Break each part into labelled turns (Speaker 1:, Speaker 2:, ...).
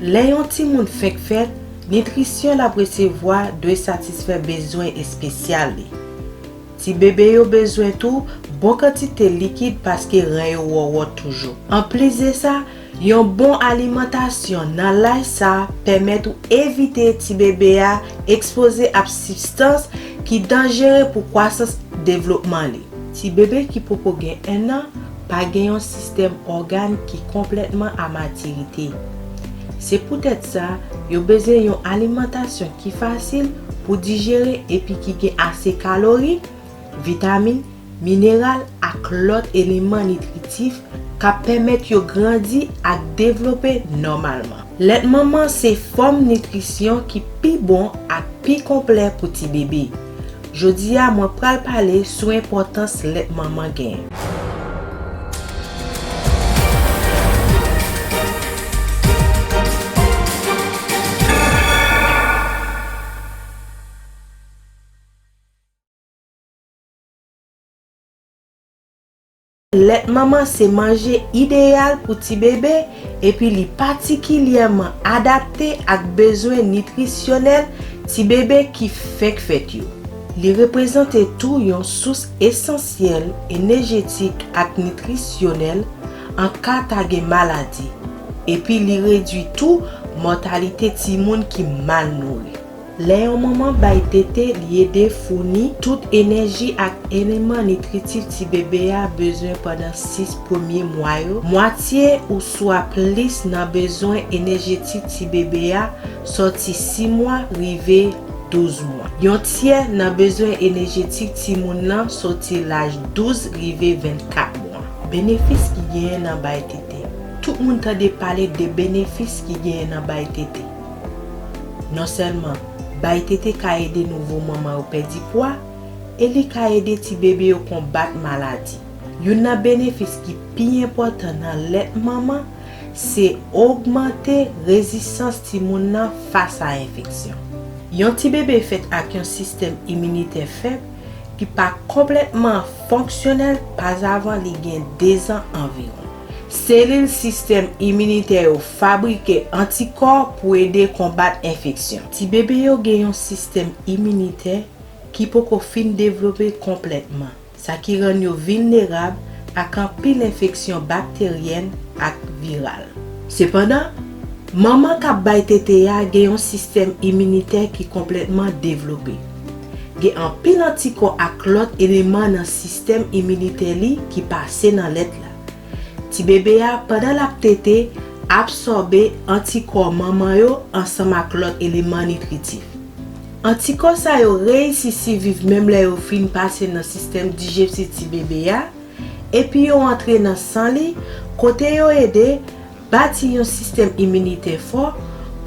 Speaker 1: Lè yon timoun fèk fèt, nitrisyon l ap resevwa dwe satisfè bezwen espesyal li. Ti bebe yo bezwen tou bon kantite likid paske ren yo wòwòt toujou. Anplis de sa, Yon bon alimantasyon nan laj sa pèmèt ou evite ti bebe a ekspoze ap sibstans ki danjere pou kwasans devlopman li. Ti bebe ki poko gen 1 an pa gen yon sistèm ògàn ki konplètman a matirite. Se poutèt sa, yo bezwen yon alimantasyon ki fasil pou dijere epi ki gen ase kalori vitamin, mineral ak lòt eleman nitritif k ap pèmèt yo grandi ak devlope nòmalman. Lèt manman se fòm nitrisyon ki pi bon ak pi konplè pou ti bebe. Jodi a mwen pral pale sou enpòtans lèt manman gen. Lèt manman se manje ideyal pou ti bebe epi li patikilyèman adapte ak bezwen nitrisyonèl ti bebe ki fenk fèt yo. Li reprezante tou yon sous esansyèl enejetik ak nitrisyonèl an ka ta gen maladi, epi li redwi tou mòtalite timoun ki mal nouri. Lè yon manman bay tete, li ede founi tout enèji ak eleman nitritif ti bebe a bezwen pandan 6 premye mwa yo, mwatye ouswa plis nan bezwen enèjetik ti bebe a sòti 6 mwa rive 12 mwa. Yon tyè nan bezwen enèjetik timoun lan sòti laj 12 rive 24 mwa. Benefis ki genyen nan bay tete. Tout moun tande pale de benefis ki genyen nan bay tete. Non sèlman, bay tete ka ede nouvo manman yo pèdi pwa e li ka ede ti bebe yo konbat maladi. Youn nan benefis ki pi enpòtan nan lèt manman se ogmante rezistans timoun nan fas a enfeksyon. Yon ti bebe fèt ak yon sistèm iminitè fèb ki pa konplètman fonksyonèl pazavan li gen dezan anviwon. Selil sistèm iminitè yo fabrike antikò pou ede konbat enfeksyon. Tibebe yo gen yon sistèm iminitè ki poko fin devlope konplètman, sa ki rann yo vilnerab ak anpil enfeksyon bakteryèn ak viral. Sepandan, manman k ap bay tete a gen yon sistèm iminitè ki konplètman devlope. Gen anpil antikò ak lòt eleman nan sistèm iminitè li ki pase nan lèt la. Tibebe a, pandan l ap tete, absòbe antikò manman yo ansanm ak lòt eleman nitritif. Antikò sa yo reyisi siviv menm lè yo fin pase nan sistèm dijepsif tibebe a epi yo antre nan san li kote yo ede Bati yon sistèm iminitè fò,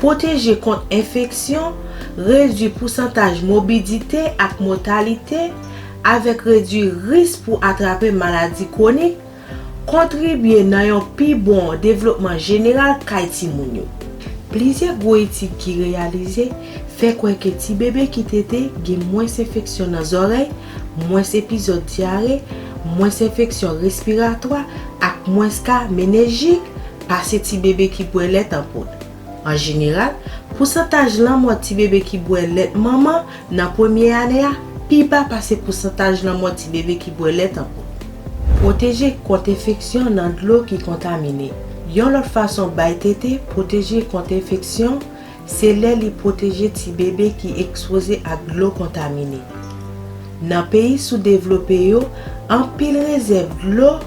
Speaker 1: pwoteje kont enfeksyon, redui pousantaj mobidite ak mòtalite, avèk redui risk pou atrape maladi kwonik, kontribye nan yon pi bon devlopman jeneral kay timoun yo. Plizyè gwo etid ki reyalize fè kwè ke tibebe ki tete gen mwens enfeksyon nan zòrèy, mwens epizòd dyare, mwens enfeksyon respiratwa ak mwens ka menenjit pase ti bebe ki bwè lèt an poud. An jeneral, pousantaj lanmò ti bebe ki bwè lèt manman nan premye ane a pi ba pase pousantaj lanmò ti bebe ki bwè lèt an poud. Pwoteje kont enfeksyon nan dlo ki kontamine. Yon lòt fason bay tete pwoteje kont enfeksyon Se lè li pwoteje ti bebe ki ekspoze ak dlo kontamine. Nan peyi soudevlope yo, anpil rezèv dlo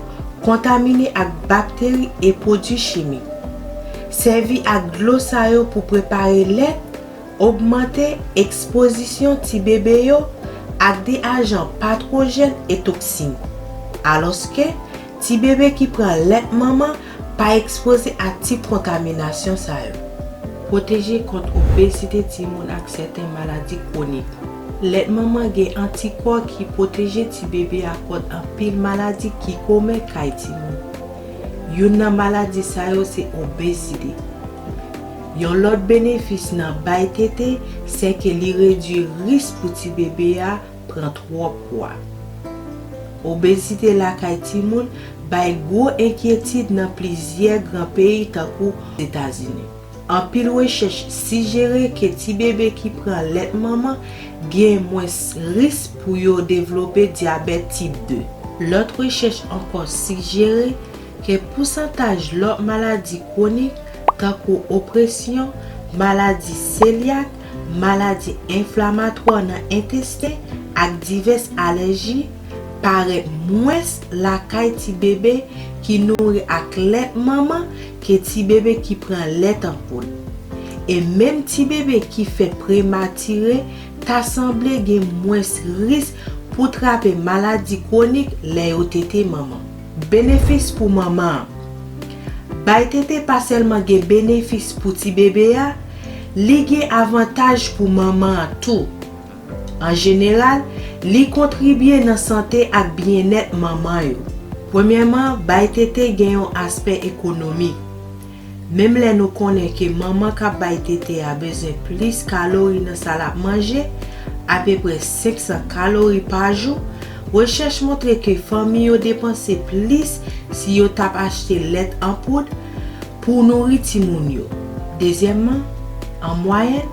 Speaker 1: kontamine ak bakteri e pwodui chimik. Sèvi ak dlo sa yo pou prepare lèt ogmante ekspozisyon ti bebe yo ak de ajan patwojèn e toksin. Alòske, ti bebe ki pran lèt manman Pa ekspoze a tip kontaminasyon sa yo. Pwoteje kont obezite timoun ak sèten maladi kwonik. Lèt manman gen antikò ki pwoteje tibebe a kont anpil maladi ki komen kay timoun. Youn nan maladi sa yo se obezite. Yon lòt benefis nan bay tete sèke li redui risk pou tibebe a pran twòp pwa. Obezite lakay timoun bay gwo enkyetid nan plizyè gran peyi tankou Etazini. Anpil rechèch sijere ke ti bebe ki pran lèt manman gen mwens risk pou yo devlope dyabèt tip 2. Lòt rechèch ankò sijere ke pousantaj lòt maladi kwonik tankou opresyon, maladi selyak, Maladi enflamatwa nan entesten ak divès alèji parèt mwens lakay ti bebe ki nouri ak lèt manman ke ti bebe ki pran lèt an poud. E menm ti bebe ki fè prematire ta sanble gen mwens risk pou trape maladi kwonik lè yo tete manman. Benefis pou manman an. Bay tete pa sèlman gen benefis pou ti bebe a, li gen avantaj pou manman an tou. An jeneral, li kontribye nan sante ak byennèt manman yo. Premyèman, bay tete gen yon aspè ekonomik. Menm lè nou konnen ke manman k ap bay tete a bezwen plis kalori nan sa l ap manje, apeprè 500 kalori pa jou, rechèch montre ke fanmi yo depanse plis si yo t ap achte lèt an poud pou nouri timoun yo. Dezyèmman, an mwayèn,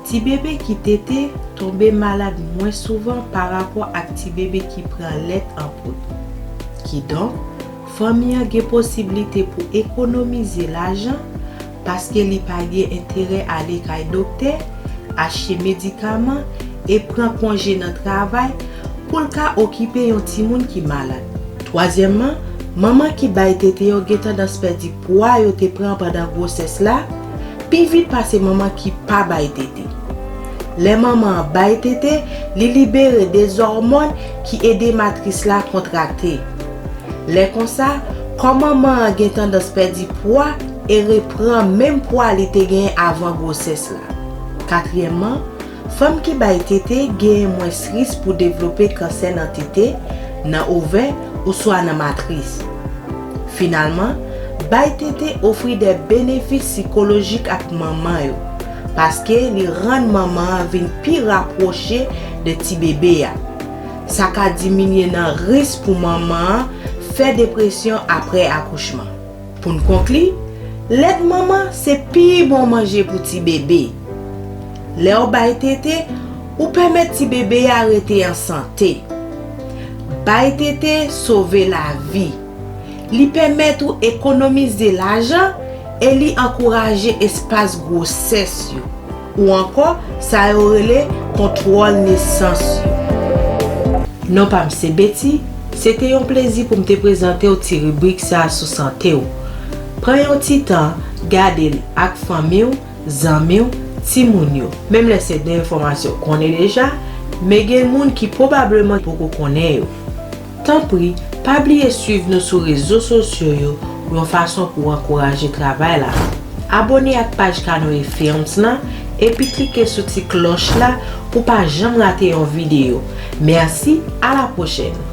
Speaker 1: tibebe ki tete tonbe malad mwens souvan parapò ak tibebe ki pran lèt an poud. Kidonk, Fanmi an gen posiblite pou ekonomize lajan paske li pa gen enterè ale kay doktè, achte medikaman e pran konje nan travay pou l ka okipe yon timoun ki malad. Twazyèmman, manman ki bay tete yo gen tandans pèdi pwa yo te pran pandan gwosès la pi vit pase manman ki pa bay tete. Lè manman an bay tete, li libere des òmòn ki ede matris la kontrakte. Lè konsa, kò manman an gen tandans pèdi pwa e repran menm pwa li te genyen avan gwosès la. Katriyèmman, fanm ki bay tete genyen mwens risk pou devlope kansè nan tete, nan ovè ouswa nan matris. Finalman, bay tete ofri de benefis sikolojik ak manman yo, paske li rann manman an vin pi rapwoche de tibebe a. Sa ka diminye nan risk pou manman an fè depresyon apre akouchman. Pou n konkli, lèt manman se pi bon manje pou ti bebe. Lè w bay tete, ou pèmèt ti bebe a rete an sante. Bay tete sove lavi. Li pèmèt ou ekonomize lajan e li ankouraje espas gwosès yo. Ou ankò, sa yo rele kontwòl nesans yo. Non pa m se Betty, se te yon plezi pou m te prezante w ti ribrik sa sou sante w. Pran yon ti tan, gade l ak fanmi w, zanmi w, timoun yo. Menm lè se de enfòmasyon w konnen deja, men gen moun ki pwobableman poko konnen yo. Tanpri, pa bliye swiv nou sou rezo sosyo yo yon fason pou w ankouraje travay la. Abone ak paj Canoe Films lan epi klike sou ti klòch la pou w pa janm rate yon videyo. Mèsi, a la pwochèn!